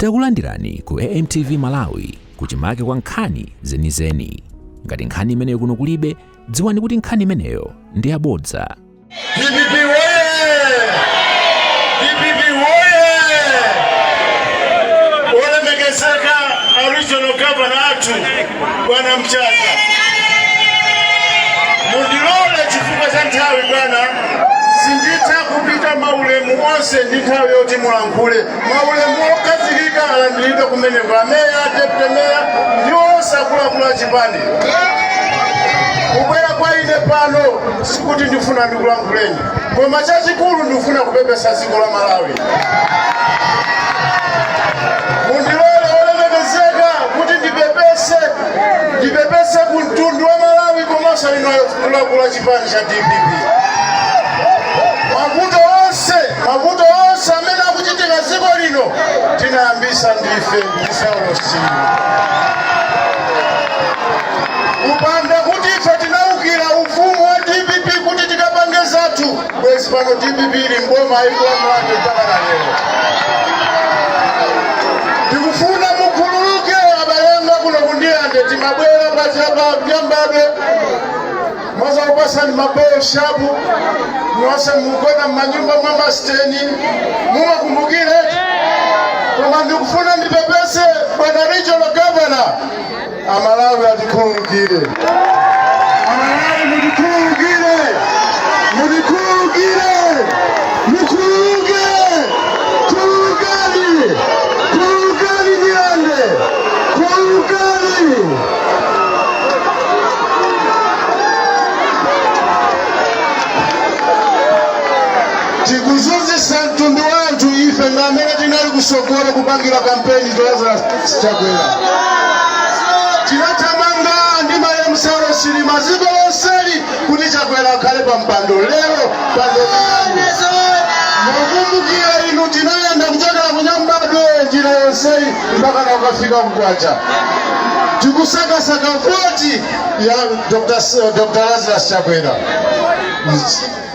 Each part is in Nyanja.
Takulandirani ku AMTV Malawi kuchimake kwa nkhani zenizeni. Ngati nkhani imeneyo kuno kulibe, dziwani kuti nkhani imeneyo ndi yabodza. DPP woye! DPP woye! Olemekezeka a regional governor athu bwana Mchacha, mundilole chifukwa cha nthawi bwana, sinditha kupita maulemu onse ndi nthawi yoti mulankhule. maulemu okhazikika alandiridwe kumeneko ameya deputy meya ndi onse akuluakulu a chipani kubwera kwa ine pano sikuti ndifuna ndikulankhuleni koma chachikulu ndikufuna kupepesa dziko la malawi mundilole olemekezeka kuti ndipepese ndipepese ku mtundu wa malawi komanso inu akuluakulu a chipani cha dpp mavuto onse mavuto onse amene akuchitika dziko lino tinayambisa ndife ndi saulosiyo kupanda kuti ife tinaukira ufumu wa dpp kuti tikapange zathu bwezi pano dpp ili mboma ikulamulabe mpaka na lero ndikufuna mukhululuke abale anga kuno ku ndirande timabwera pansi apa nyambadwe mwazakupasani mabolo shapu mwase mugona mmanyumba mwa masiteni mumakumbukire koma ndikufuna ndipepese bwana regional governor amalawi atikhululukire amalawi mutikhululukire mutikhululukire mukhululuke khululukani khululukani ndirande khululukani tikuzunzisa mtundu wa anthu ife ndi amene tinali kusogolo kupangira kampeni lazarus chakwera tinathamanga ndi malemu saulos chilima ziko lonseli kuti chakwera akhale pa mpando lero pandokani mukumbukira inu tinayenda kuchokera kunyambadwe njira yonseyi mpakana kukafika mkwacha tikusakasaka voti ya Dr. S- Dr. Lazarus Chakwera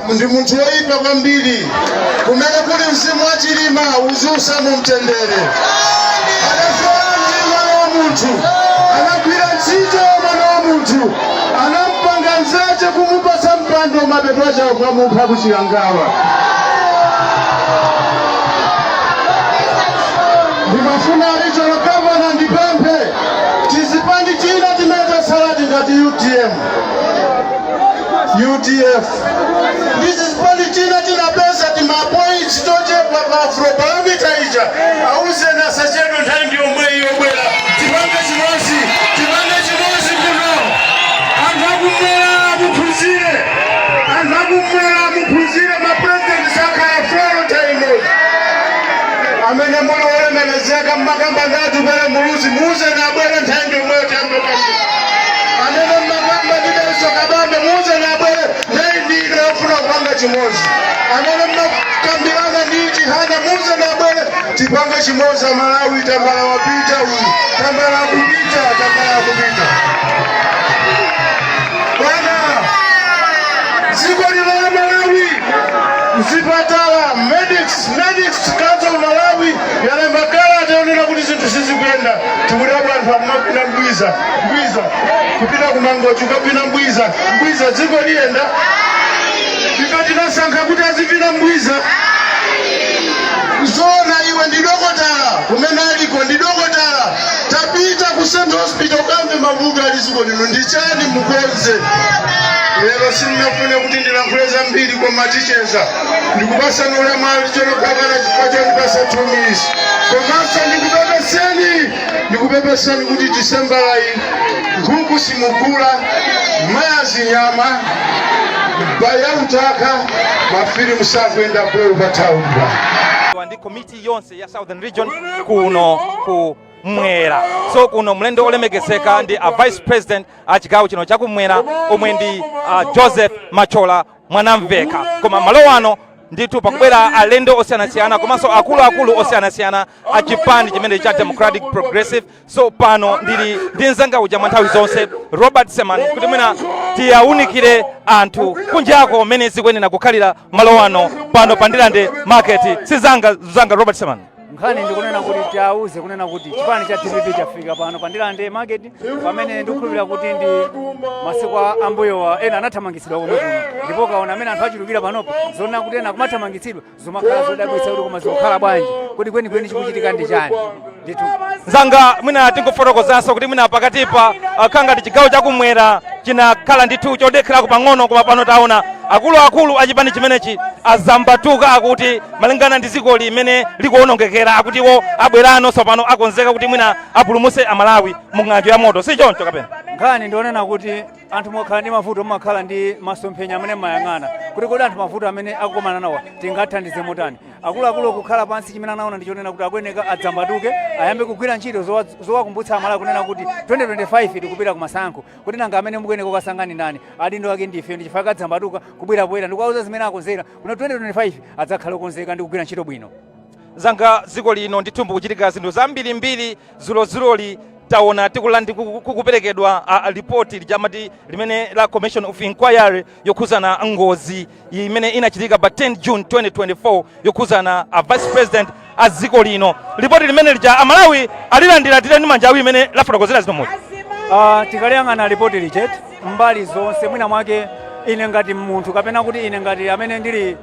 ndi munthu woyipa kwambiri kumene kuli mzimu wa chilima uziusa mu mtendere anasowa mwana wa munthu anagwira ntchito mwana wa munthu anampanga nzache kumupasa mpando mapeto ache kukamupha kuchikangawa ndimafuna regional governor ndipemphe tizipani tina timene tatsaladi ngati utm udf ndi zipani tina tinapeza timapoints tochepa pa Afrobarometer ija auzeni asachedwe nthawi ndi yomweyi abwere tipange chimozi tipange chimozi muno anthu akumwera muphunzire anthu akumwera muphunzire mapresident sakhala for all times amene muli olemekezeka mmakamba ndi atupele muluzi muuzeni abwere nthawi ndi yomweyi tiyambe kwambiri amene mmakamba ndi dalitso kabambe muuzeni abwere nthawi ndi yofuna kupanga chimodzi amene mmakambirana ndi chihana muuzeni abwere tipange chimodzi amalawi tambala wapita uyu tambala akupita tambala akupita bwana dziko lino la malawi mzipatala medics Medical Council of Malawi yalemba kalata yonena kuti zinthu sizikuyenda tikudabwa anthu akumapita mbwiza mbwiza kupita kumangochi kukapita mbwiza mbwiza dziko liyenda ife tinasankha kuti azipita mbwiza zona iwe ndi dokotala kumene aliko ndi dokotala tapita ku central hospital ukamve mavuto ali dziko lino ndi chani mukonze lero sindinafune kuti ndilankhule zambiri koma ticheza ndikupasani ulemu achina kaka chifukwa chondipasa two minutes komanso ndikupepeseni ndikupepeseni kuti disembala iyi nkhuku simugula mayazi nyama ya bhaya utaka mafilimu sakuyenda bho pa tauni pano ndi komiti yonse ya southern region kuno kumwera so kuno mlendo olemekezeka ndi a vice president a chigawo chino chakumwera omwe ndi a joseph mathyola mwanamveka koma malo ano ndithu pakubwera alendo osiyanasiyana komanso akuluakulu osiyanasiyana a chipani chimene cha democratic progressive so pano ndili ndi mzanga uja mwa nthawi zonse robert seman kuti mwina tiyawunikire anthu kunjako mmene zikuyenera kukhalira malo ano pano pa ndirande market si mzanga mzanga robert seman nkhani ndikunena kuti tiauze kunena kuti chipani cha dpp chafika pano pa ndirande market pamene ndikukhulupirira kuti ndi masiku a- ambuyowa ena anathamangitsidwa komwe kuno ndipo kuona mmene anthu achulukira panopo zonena kuti ena kumathamangitsidwa zomakhala zodabwitsa kuti koma zikukhala bwanji kuti kwenikweni chikuchitika ndi chani ndithu mzanga mwina tingofotokozanso kuti mwina pakatipa zakhala ngati chigawo chakumwera chinakhala ndithu chodekherako pang'ono koma pano taona akuluakulu a chipani chimenechi azambatuka kuti malingana ndi dziko limene likuwonongekera akuti iwo abweranso pano akonzeka kuti mwina apulumutse amalawi mu ng'anjo ya moto si choncho kapena nkhani ndionena kuti anthu mukakhala ndi mavuto mumakhala ndi masomphenya amene mumayang'ana kuti kodi anthu mavuto amene akukomana nawo tingathandize motani akuluakulu kukhala pansi chimene anaona ndi chonena kuti akuyeneka adzambatuke ayambe kugwira ntchito zowa- zowakumbutsa amalawi kunena kuti 2025 tikupita kumasankho kuti nanga amene mukuyeneka kukasankha ndi ndani adindo ake ndife ndi chifukwa adzambatuka kubwera poyera ndikuwauza zimene akonzera kuti 2025 adzakhale okonzeka ndi kugwira ntchito bwino zanga dziko lino ndithu mukuchitika zinthu zambirimbiri dzulodzuloli taona tikulandi kukuperekedwa a- a lipoti lijamati limene la commission of inquiry yokhuzana ngozi imene inachitika pa 10 june 2024 yokhuzana a vice president a dziko lino lipoti limene lija amalawi alilandiradi ndi manja awiri mmene lafotokozera zimomuzi Ah, tikaliyang'ana lipoti lija mbali zonse mwina mwake ine ngati munthu kapena kuti ine ngati amene ndili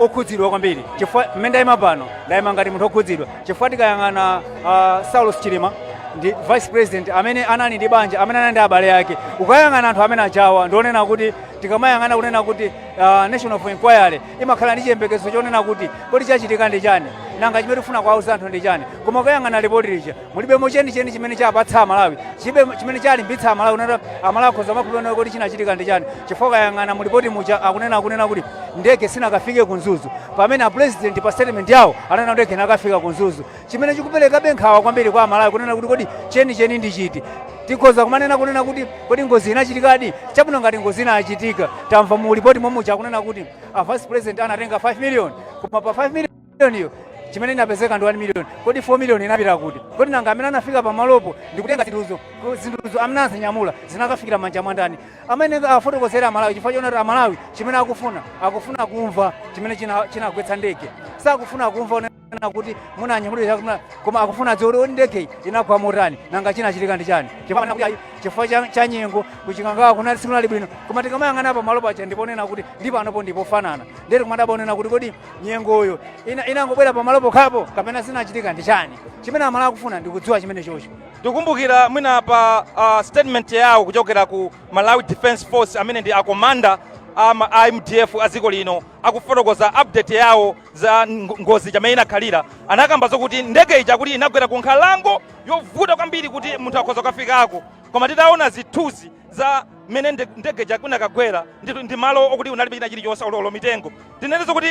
okhudzidwa kwambiri chifukwa mmene ndayima pano ndayima ngati munthu okhudzidwa chifukwa tikayang'ana ah, saulos chilima ndi vice president amene anali ndi banja amene anali ndi abale ake ukayang'ana anthu amene ajawa ndionena kuti tikamayang'ana kunena kuti ah, national of inquiry imakhala ndi chiyembekezo chonena kuti kodi chachitika ndi chani nanga chimene tikufuna kuwawuza anthu ndi chani koma ukayang'ana lipoti lija mulibemo chenicheni chimene chapatsa amalawi chibe chimene chalimbitsa amalawi kunena kuti amalawi akhoza kumakhulupirira kuti chinachitika ndi chani chifukwa ukayang'ana mulipoti muja akunena akunena kuti ndege sinakafike ku mzuzu pamene apurezidenti pa statement yawo anena ndege inakafika ku mzuzu Chimene chikuperekabe nkhawa kwambiri kwa Amalawi kunena kuti kodi chenicheni ndi chiti? Tikhoza kumanena kunena kuti kodi ngozi inachitikadi? Chabwino ngati ngozi inachitika, tamva mu report mo muja akunena kuti a vice president anatenga 5 million, koma pa 5 million iyo chimene inapezeka ndi 1 million. Kodi 4 million inapita kuti? Kodi nanga amene anafika pamalopo ndi kutenga zinthuzo, ku- zinthuzo amene azinyamula zinakafikira manja mwa ndani? Amene afotokozera Amalawi chifukwa chonati Amalawi chimene akufuna akufuna kumva chimene china- chinagwetsa ndege, sakufuna kumva kapena kuti munanyamulira koma akufuna adziwe kuti ndege inagwa motani nanga chinachitika ndi chani chifukwa kuti ayi, chifukwa cha, cha nyengo kuchikangawa kunali sikunali bwino koma tikamayang'ana pa malo paja ndiponena kuti ndi pano po ndipofanana nde tikumadabwa onena kuti kodi nyengoyo ina- inangobwera pa malo pokhapo kapena chinachitika ndi chani chimene amalawi akufuna ndikudziwa chenichenicho tikumbukira mwina pa uh, statement yawo kuchokera ku malawi defense force amene ndi akomanda a ma- a mdf a dziko lino akufotokoza update yawo za ng- ngozi ija mmene inakhalira anakamba zokuti ndege ija kuti inagwera ku nkhalango yovuta kwambiri kuti munthu akhoza kukafikako koma titaona zithunzi za mmene nde- ndege ija inakagwera ndi, ndi malo okuti kunalibe china chilichonse olo olo mitengo tinene zokuti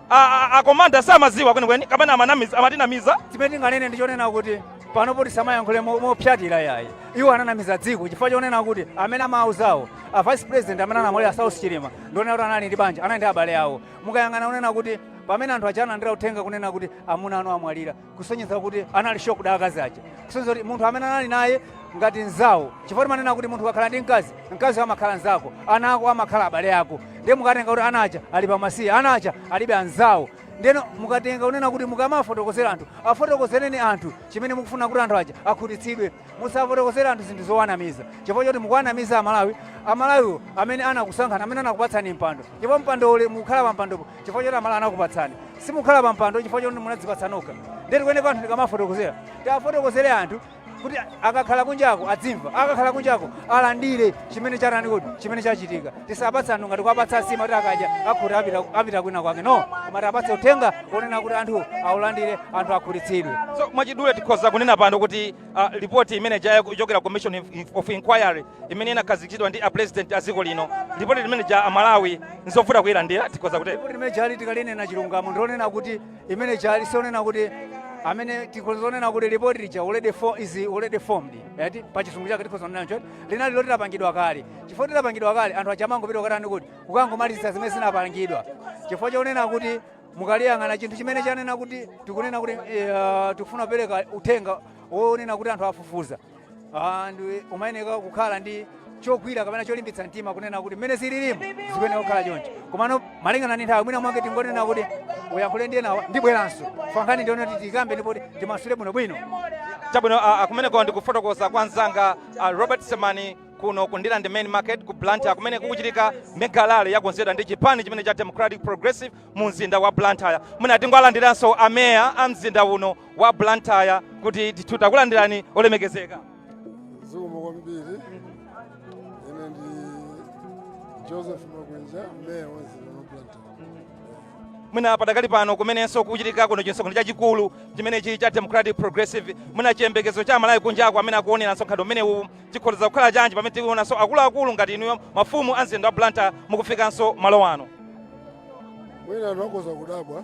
a- a- akomanda samadziwa kwenikweni kapena amanamiza- amatinamiza chimene tinganene ndi chonena kuti panopo tisamayankhule mo- mopsatira yayi iwo ananamiza dziko chifukwa chonena kuti amene amauzawo a vice president amene anamwalira saulos chilima ndionena kuti anali ndi banja anali ndi abale awo mukayang'ana kunena kuti pamene anthu aja analandira uthenga kunena kuti amuna anu amwalira kusonyeza kuti anali shocked akazi aja kusonyeza kuti munthu amene anali naye ngati nzawo chifukwa timanena kuti munthu ukakhala ndi mkazi mkazi amakhala nzako ana ako amakhala abale ako ndiye mukatenga kuti ana aja ali pamasiye ana aja alibe anzawo ndiyeno mukatenga kunena kuti mukamafotokozera anthu afotokozereni anthu chimene mukufuna kuti anthu aja akhutitsidwe musafotokozere anthu zinthu zowanamiza chifukwa choti mukuwanamiza amalawi amalawiwo amene anakusankhani amene anakupatsani mpando ndipo mpando uli mukhala pampandopo chifukwa choti amalawi anakupatsani simukhala pampando chifukwa choti munadzipatsa nokha ndiye tikuyeneka anthu tikamafotokozera tiafotokozere anthu kuti akakhala kunjako adzimva akakhala kunjako alandire chimene chatani kuti chimene chachitika tisapatse anthu ngati kuwapatsa nsima kuti akadya akhute apita, apita kwina kwake no koma tiapatse uthenga onena kuti anthu aulandire anthu akhutitsidwe so mwachidule tikhoza kunena pano kuti uh, ripoti imene ija yakuchokera commission of inquiry imene inakhazikitsidwa ndi apulezidenti a dziko lino lipoti limene lija amalawi nzovuta kuyilandira tikhoza kutero lipoti limene lijali tikalinena chilungamo ndilonena kuti imene ija sionena kuti amene tikhozonena kuti lipoti lija already for is already formed eti pa chizungu chake tikhozonena choti linali loti lapangidwa kale chifukwa choti lapangidwa kale anthu aja amangopita kukatani kuti kukangomaliza zimene zinapangidwa chifukwa chonena kuti mukaliyang'ana chinthu chimene chanena kuti tikunena kuti eh, tikufuna kupereka uthenga wonena kuti anthu afufuza Ah, ndiye umayeneka kukhala ndi chogwira kapena cholimbitsa mtima kunena kuti mmene zililimo zikuyeneka kukhala choncho komano malingana ndi nthawi mwina mwake tingonena kuti uyankhule ndi enawa ndibweranso pankhani ndione kuti tikambe ndipo timasule bwinobwino chabwino ah, ah, kumeneko ndikufotokoza kwa mzanga ah, robert semani kuno ku ndirande main market ku blantyre kumene kukuchitika mega rally yakonzedwa ndi chipani chimene cha democratic progressive mu mzinda wa blantyre mwina tingoalandiranso ameya a mzinda uno wa Blantyre kuti ndithu takulandirani olemekezeka. zikomo kwambiri ine ndi joseph makwinja meya wa mzinda wa blantyre mwina padakali pano kumenenso kuchitika kuno chimsonkhano chachikulu chimenechi cha democratic progressive mwina chiyembekezo cha amalawi kunjako amene akuonera msonkhano umenewu chikhoza kukhala chanji pamene tikuonanso akuluakulu ngati inuyo mafumu a mzinda wa Blantyre mukufikanso malo ano mwina anthu akhoza kudabwa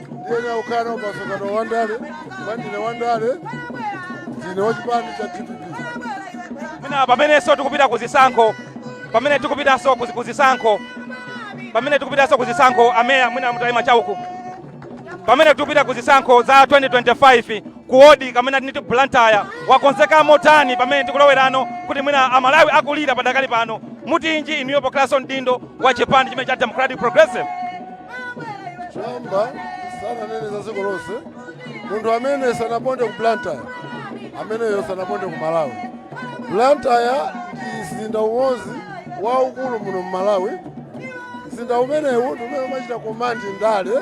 ndiyenera kukhala nawo pamsonkhano wa ndale kwa ndine wa ndale ndine wa chipani cha dpp mwina pamenenso tikupita ku zisankho pamene tikupitanso ku ku zisankho pamene tikupitanso ku zisankho ameya mwina mutayima chauku pamene tikupita ku zisankho za 2025 ku wodi kamene tiniti blantyre wakonzeka motani pamene tikulowerano kuti mwina amalawi akulira padakali pano mutinji inuyo pokhalanso mdindo wa chipani chimene cha democratic progressive choyamba sananene za dziko lonse munthu amene sanaponde ku blantyre ameneyo sanaponde ku malawi blantyre ndi mzinda umodzi waukulu muno mu malawi mzinda umenewu ndi umene umachita komandi ndale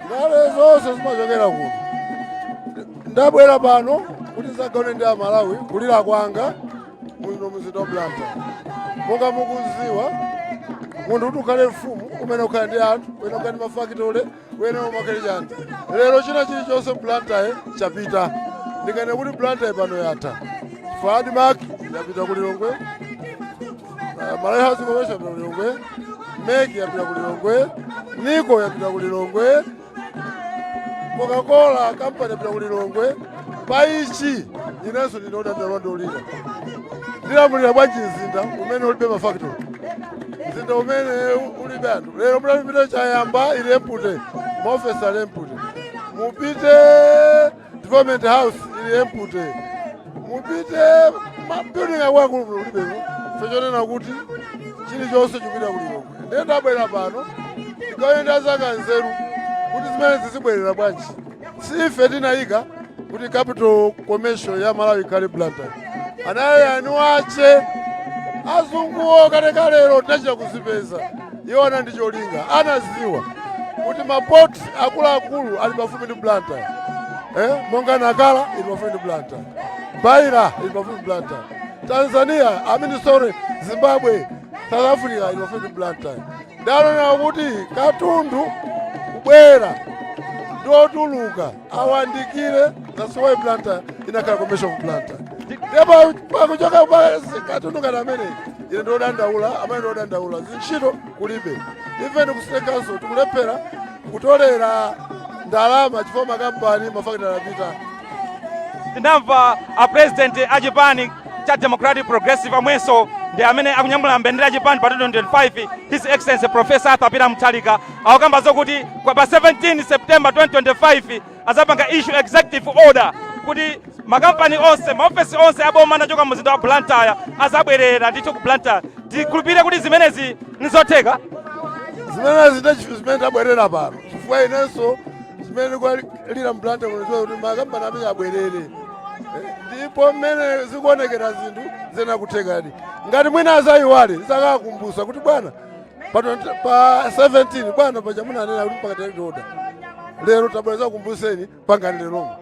ndale zonse zimachokera kuno ndabwera pano kuti ndidzagawane ndi amalawi kulira kwanga muno mzinda wa blantyre monga mukuziwa munthu kuti ukhale mfumu umayenera ukhale ndi anthu uyenera ukhale ndi mafakitole uyenera ukhale chani lero china chilichonse blantyre chapita ndikanena kuti blantyre pano yatha chifukwa admark yapita ku lilongwe uh, malawi housing corporation yapita ku lilongwe mec yapita ku lilongwe nico yapita ku lilongwe coca-cola kampani yapita ku lilongwe pa ichi inenso ndine odandaula ndiolira ndilamulira bwanji mzinda umene ulibe mafactory mzinda umene ulibe anthu lero mutapita chayamba ili empty maofesi ali empty mupite development house ili empty mupite mabuilding akuluakulu kulibeko chifukwa chonena kuti chilichonse chikupita ku lilongwe ndiye ndabwera pano ndigawane ndi anzanga nzeru kuti zimenezi zibwerera bwanji si ife tinayika kuti capital commercial ya malawi ikhale blantyre anayika eni ache azunguwo kalekalero tinachita kuzipeza iwo anali ndi cholinga anaziwa kuti mapot akuluakulu ali pafupi ndi blantyre eh? monga nacala ili pafupi ndi blantyre beira ili pafupi ndi blantyre tanzania i mean sorry zimbabwe south africa ili pafupi ndi blantyre ndiye anaona kuti katundu kubwera ndi kutuluka awandikire that's why Blantyre inakhala commercial Blantyre ndipo pakuchoka katundu ngati amene ine ndiodandaula amene ndiodandaula zintchito kulibe even ku city council tikulephera kutolera ndalama chifukwa makampani mafakitale apita tinamva a president a chipani cha democratic progressive omwenso ndi amene akunyamula mbendera ya chipani pa 2025 his excellency professor arthur peter mutharika akukamba zokuti pa 17 september 2025 azapanga issue executive order kuti makampani onse maofesi onse aboma anachoka muzinda wa blantyre azabwerera ndithu ku blantyre tikhulupirire kuti zimenezi nizotheka zimenezi ndiye chinthu chimene ndabwerera pano chifukwa inenso zimene ndikuwalira mu blantyre kuno kuti makampani amenewa abwerere Eh, ndipo mmene zikuonekera zinthu ziyenera kuthekadi ngati mwina azayiwale ndizakawakumbusa kuti bwana pa 20 pa 17 bwana paja munanena kuti mpaka tiyende oda lero tabweza kumbuseni pangani leromo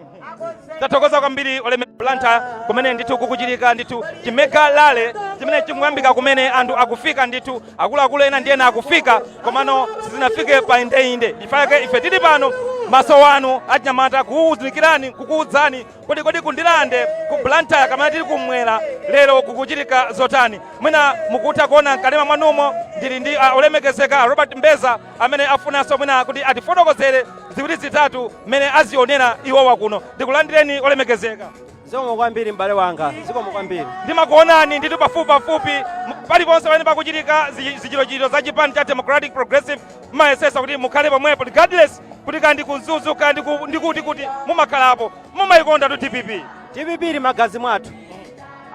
tathokoza kwambiri oleme Blantyre kumene ndithu kukuchitika ndithu chimega rally chimene chikuyambika kumene anthu akufika ndithu akuluakulu ena ndi ena akufika komano sizinafike pa indeinde pake ife tili pano maso wanu achinyamata kukuunikirani kukuudzani Kodi kodi ku Ndirande, ku Blantyre kapena tili kum'mwera lero kukuchitika zotani? Mwina mukutha kuona m'kanema mwanumo ndili ndi a olemekezeka a Robert Mbeza amene afunanso mwina kuti atifotokozere ziwiri zitatu mmene azionera iwowa kuno. Ndikulandireni olemekezeka. Zikomo kwambiri m'bale wanga, zikomo kwambiri. Ndimakuonani ndithu pafupipafupi m- paliponse pamene pakuchitika zi- zichitochito za chipani cha Democratic Progressive mumayesetsa kuti mukhale pomwepo regardless kuti kaya ndi ku Mzuzu kaya ndi kuti kuti mumakhalapo mumayikondatu dpp dpp ili m'magazi mwathu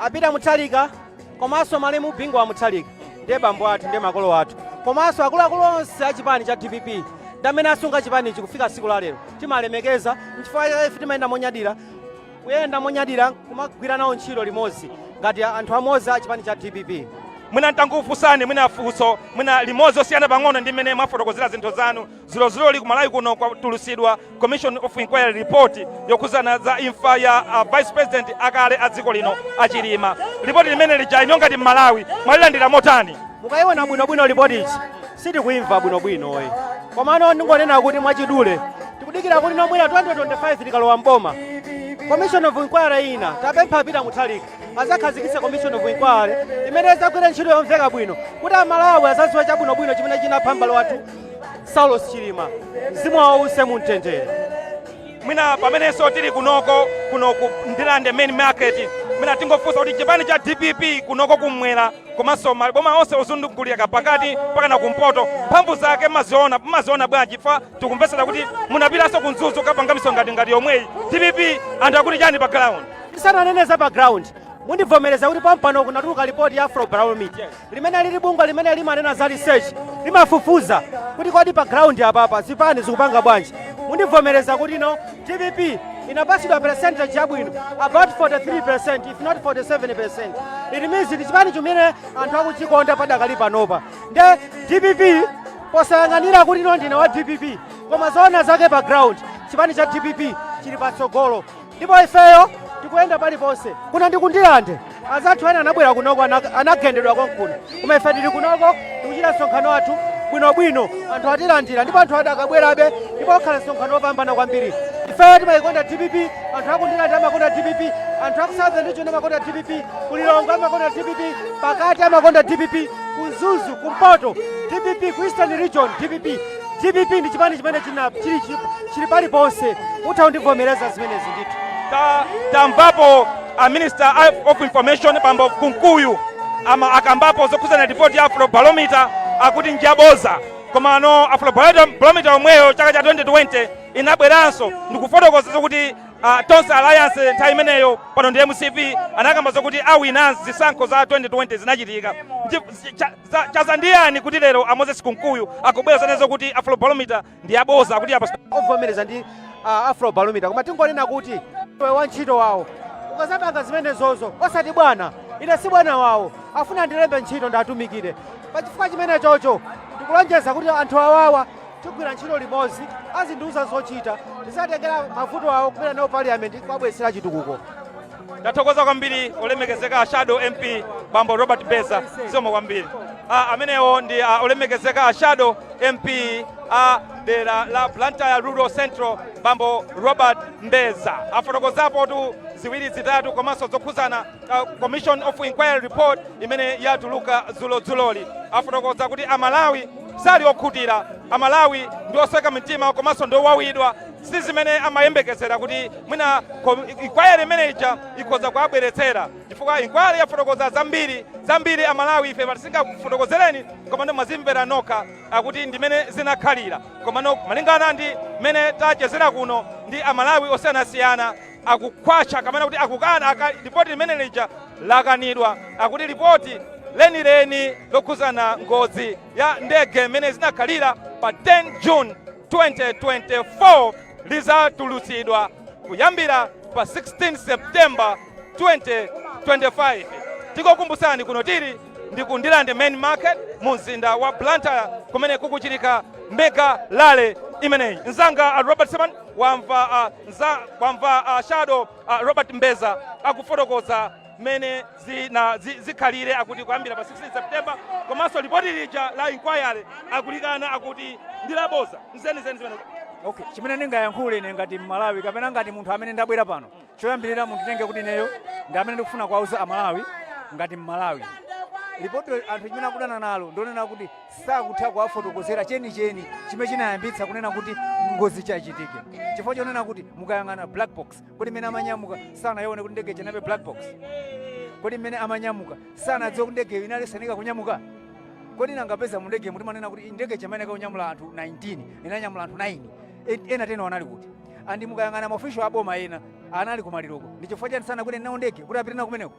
a Peter Mutharika komanso malemu bingu wa Mutharika ndiye bambo athu ndiye makolo athu komanso akuluakulu onse a chipani cha dpp ndamene asunga chipanichi kufika siku la lero timalemekeza nchifukwa ife timayenda monyadira kuyenda monyadira nkumagwira nawo ntchito limodzi ngati anthu amodzi a chipani cha dpp mwina ntangokufunsani mwina funso mwina limodzi losiyana pang'ono ndi mmene mwafotokozera zinthu zanu dzulodzuloli ku malawi kuno kwatulutsidwa commission of inquiry report yokhudzana za imfa ya uh, vice president akale a dziko lino a Chilima lipoti limene lija inuyo ngati mmalawi mwalilandira motani mukayiona bwinobwino lipoti ija sitikuimva bwinobwinoyi komano ndingonena kuti mwachidule tikudikira kuti no mmene 2025 tikalowa mboma commission of inquiry ina tapempha a Peter Mutharika azakhazikitse commission of inquiry imene izagwire ntchito yomveka bwino kuti amalawi azaziwe chabwinobwino chimene chinapha mbale wathu saulos chilima mzimu wawo uwuse mumtendere mwina pamenenso tili kunoko kuno ku Ndirande main market mwina tingofunsa kuti chipani cha dpp kunoko kumwera komanso maboma onse ozungulira pakati mpakana kumpoto, mphamvu zake mmaziona mmaziona bwanji? Chifukwa tikumvetsedwa kuti munapitanso ku Mzuzu kukapanga misonkhano ngati yomweyi. Dpp anthu akuti chani pa ground? Tisananene za pa ground, mundivomereza kuti pompano kunatuluka lipoti ya Afrobarometer limene lili bungwe limene limanena za research, limafufuza kuti kodi pa ground apapa zipani zikupanga bwanji. Mundivomereza kuti no Dpp inapatsidwa percentage yabwino about 43% if not 47%. It means ndi chipani chimene anthu akuchikonda padakali panopa. Nde dpp posayang'anira kuti ineyo ndine wa dpp koma zoona zake pa ground chipani cha dpp chili patsogolo ndipo ifeyo tikuyenda paliponse kuno ndi ku Ndirande azathu ena anabwera kunoko ana- anagendedwa konkuno koma ife tili kunoko tikuchita msonkhano wathu bwinobwino anthu atilandira ndipo anthu adakabwerabe ndipo akhala msonkhano wopambana kwambiri ifeyo timayikonda dpp anthu aku Ndirande amakonda dpp anthu aku southern region amakonda dpp kulilongo amakonda dpp pakati amakonda dpp ku Mzuzu kumpoto dpp ku eastern region dpp dpp ndi chipani chimene china chili chi- chili paliponse utha undivomereza zimenezi ndithu Ta- tamvapo a minister of information bambo kunkuyu ama akambapo zokhudzana ripoti ya afrobarometer akuti njaboza komano afrobarometer yomweyo chaka cha 2020 inabweranso ndikufotokoza zokuti uh, tonse alliance nthawi imeneyo pano ndi mcp anakamba zokuti awina zisankho za 2020 zinachitika Nji- cha- Za- chaza ndi yani kuti lero a moses kunkuyu akubwera za nezo kuti afrobarometer ndi aboza kuti apa ovomereza ndi uh, afrobarometer koma tingonena kuti iwe wantchito wawo ukazapanga zimenezozo osati bwana ine si bwana wawo afuna ndilembe ntchito ndiwatumikire pachifukwa chimenechocho ndikulonjeza kuti anthu awawa tigwira ntchito limodzi azindiuza zochita ndizatengera mavuto awo kupita nawo parliament kuwabwetsera chitukuko ndathokoza kwambiri olemekezeka a shadow mp bambo robert mbeza zikomo kwambiri a amenewo ndi a olemekezeka a shadow mp a dera la blantyre rural central bambo robert mbeza afotokozapotu ziwiri zitatu komanso zokhuzana uh, commission of inquiry report imene yatuluka dzulodzuloli afotokoza kuti amalawi sali okhutira amalawi ndi osweka mitima komanso ndi owawidwa Si zimene amayembekezera kuti mwina inquiry imene ija ikhoza kuwabweretsera chifukwa inquiry yafotokoza zambiri, zambiri a Malawi ife pano sitingafotokozereni komano mwazimvera nokha akuti ndi mene zinakhalira komano malingana ndi mene tachezera kuno ndi a Malawi osiyanasiyana akukhwacha kapena kuti akukana aka lipoti limene lija lakanidwa akuti lipoti lenileni lokhuzana ngozi ya ndege mene zinakhalira pa 10 June 2024 lizatulutsidwa kuyambira pa 16 September 2025. Tikukumbutsani kuno tili ndi ku Ndirande main market mu mzinda wa Blantyre kumene kukuchitika mega rally imeneyi. Mnzanga Robert Seman wamva a nza wamva a Shadow a Robert Mbeza akufotokoza mmene zina zi- zikhalire akuti kuyambira pa 16 september komanso lipoti lija la inquiry akulikana akuti ndi laboza nzenizeni zimenezi okay chimene ndingayankhule ine ngati mmalawi kapena ngati munthu amene ndabwera pano choyambirira munditenge kuti ineyo ndi amene ndikufuna kuwauza amalawi ngati mmalawi lipotilo anthu chimene akudana nalo ndonena kuti sakutha kuwafotokozera chenicheni chimene chinayambitsa kunena kuti ngozi chachitike chifukwa chonena kuti mukayang'ana black box kodi mmene amanyamuka sanayione kuti ndege ija inalibe black box kodi mmene amanyamuka sanadziwe kuti ndege inali isanafunika kunyamuka kodi nanga poti mundege muja timanena kuti ndege ija imayenekera kunyamula anthu 19 inanyamula anthu 9 E- ena teniwo anali kuti andi mukayang'ana maofisho aboma ena anali kumaliroko ndi chifukwa chani sanakwere nawo ndege kuti apite nawo kumeneko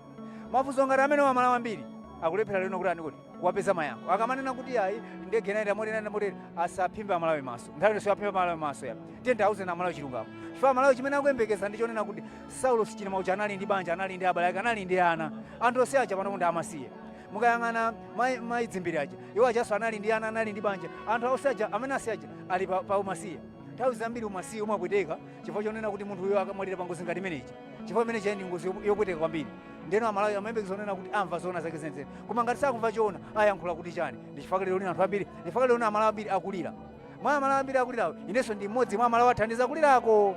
mafunso ngati amenewa amalawi ambiri akulephera lero lino kuti andikuti kuwapeza mayankho akamanena kuti ayi ndege inayenda motere inayenda motere asaphimbe amalawi maso nthawi yonse aphimbe amalawi maso ya tiyeni tiwauze amalawi chilungamo chifukwa amalawi chimene akuyembekeza ndi chonena kuti saulos chilima uja anali ndi banja anali ndi abale ake anali ndi ana anthu onse aja panopo ndi amasiye mukayang'ana mai- mai dzimbiri aja iwo ajanso anali ndi ana anali ndi banja anthu onse aja amene awasiya aja ali pa, pa umasiye nthawi zambiri umasiye umapweteka chifukwa chonena kuti munthuyo akamwalira pangozi ngati imeneyi chifukwa imene ija ndi ngozi yopu- yopweteka kwambiri ndeno amalawi amayembekeza zonena kuti amva zoona zake zenizeni koma ngati sakumva choona ayankhula kuti chani ndi chifukwa lero lino anthu ambiri ndi chifukwa lero lino amalawi ambiri akulira mwa amalawi ambiri akulirawo inenso ndi mmodzi mwa amalawi athandiza kulirako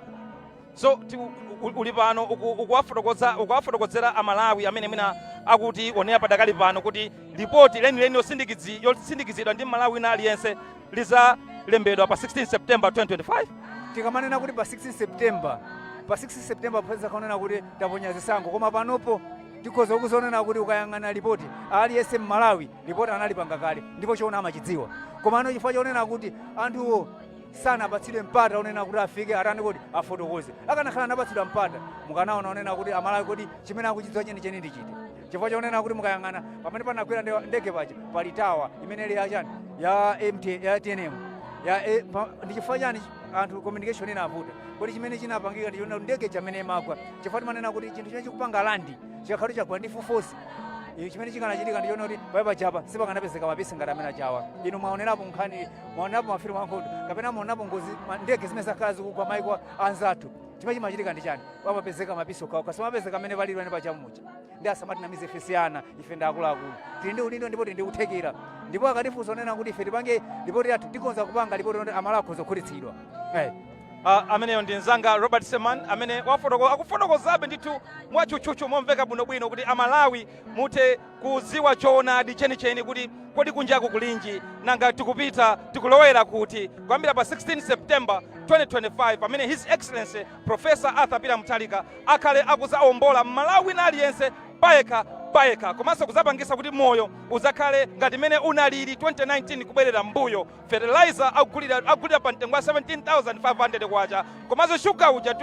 so ti- u- u- uli pano uku- ukuwafotokoza- ukuwafotokozera amalawi amene mwina akutionera padakali pano kuti lipoti lenileni yosindikizi- yosindikizidwa ndi mmalawi wina aliyense lizalembedwa pa 16 september 2025 tikamanena kuti pa 16 september pa 16 september pozakhala kunena kuti taponya zisankho koma panopo tikhoza kuzanena kuti ukayang'ana ripoti aliyense mmalawi ripoti analipanga kale ndipo choona amachidziwa komano chifukwa chonena kuti anthuwo sanapatsidwe mpata onena kuti afike atani kuti afotokoze akanakhala anapatsidwa mpata mukanaona onena kuti amalawi kodi chimene akuchidziwa chenicheni ndi chiti chifukwa chonena kuti mukayang'ana pamene panagwera nde- ndege paja pali tawa imene ili yachani ya MT, ya tnm ya eh, pa- ndi chifukwa chani anthu communication inavuta kodi chimene chinapangika ndi chonena kuti ndege ija mmene imagwa chifukwa timanena kuti chinthu chimene chikupanga landi chikakhala chagwa ndi force ija chimene chikanachitika ndi chonena kuti pamene paja apa sipakanapezeka mapisi ngati amene aja awa inu mwaonerapo nkhani mwaonerapo mafilimu ankhondo kapena mwaonapo ngozi ma- ndege zimene zakhala zikugwa maiko anzathu chimene chimachitika ndi chani pamapezeka mapisi okhaokha sipamapezeka amene palilwene pachamuchi ndiye asamatinamize ife si ana ife ndi akuluakulu tili ndi udindo ndipo tili ndi kuthekera ndipo akatifunsa onena kuti ife tipange lipoti yathu tikhoza kupanga lipoti loti amalawi akhoza kukhutitsidwa Eh. Ah, ameneyo ndi mzanga robert seman amene wafotoko- akufotokozabe ndithu mwatchutchutchu momveka bwinobwino kuti amalawi muthe kudziwa choonadi chenicheni kuti kodi kunjaku kulinji nanga tikupita tikulowera kuti kuyambira pa 16 september 2025 pamene his excellency Professor Arthur Peter Mutharika akhale akuzaombola mmalawi wina aliyense payekha payekha komanso kuzapangisa kuti moyo uzakhale ngati mene unalili 2019 kubwerera mbuyo fertilizer akugulira akugulira pa mtengo wa 17500 kwacha komanso shuga uja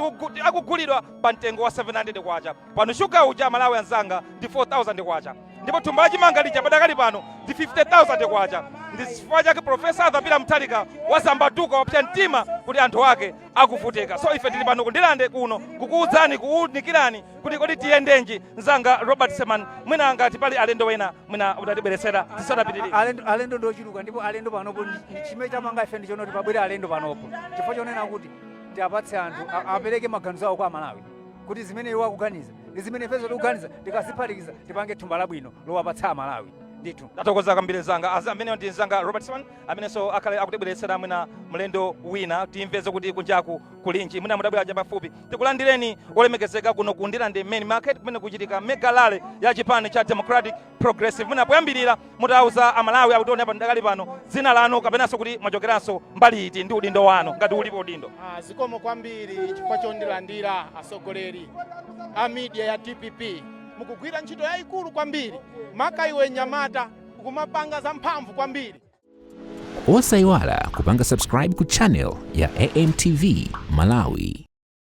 akugulidwa pa mtengo wa 700 kwacha pano shuga uja amalawi anzanga ndi 4000 kwacha ndipo thumba la chimanga lija padakali pano ndi 50000 kwacha ndi chifukwa chake profesa arthur peter mutharika wazambatuka wapsa mtima kuti anthu ake akuvutika so ife tili pano ku ndilande kuno kukuudzani kuunikirani kuti kodi tiyendenji mzanga robert seman mwina ngati pali alendo wena mwina utatibweretsera tisanapitirire alendo ndi ochuluka ndipo alendo panopo chimene chamanga ife ndi chonoti pabwere alendo panopo chifukwa chonena kuti tiapatse anthu apereke maganizo awo kwa amalawi kuti zimene iwo akuganiza ndi zimene ifenso tikuganiza tikaziphatikiza tipange thumba labwino lowapatsa amalawi ndithu tathokoza kwambiri mzanga ameneyo ndi mzanga robert seman amenenso akhale akutibweretsera mwina mlendo wina timveze kuti kunjaku kulinji mwina mutabwera chapafupi tikulandireni olemekezeka kuno ku ndilande main market kumene kuchitika mega rally ya chipani cha democratic progressive mwina poyambirira mutauza amalawi akutionera padakali pano dzina lanu kapenanso kuti mwachokeranso mbali iti ndi udindo wanu ngati ulipo udindo zikomo kwambiri chifukwa chondilandira atsogoleri a media ya dpp mukugwira ntchito yayikulu kwambiri maka iwe nyamata kumapanga zamphamvu kwambiri osayiwala kupanga subscribe ku channel ya amtv malawi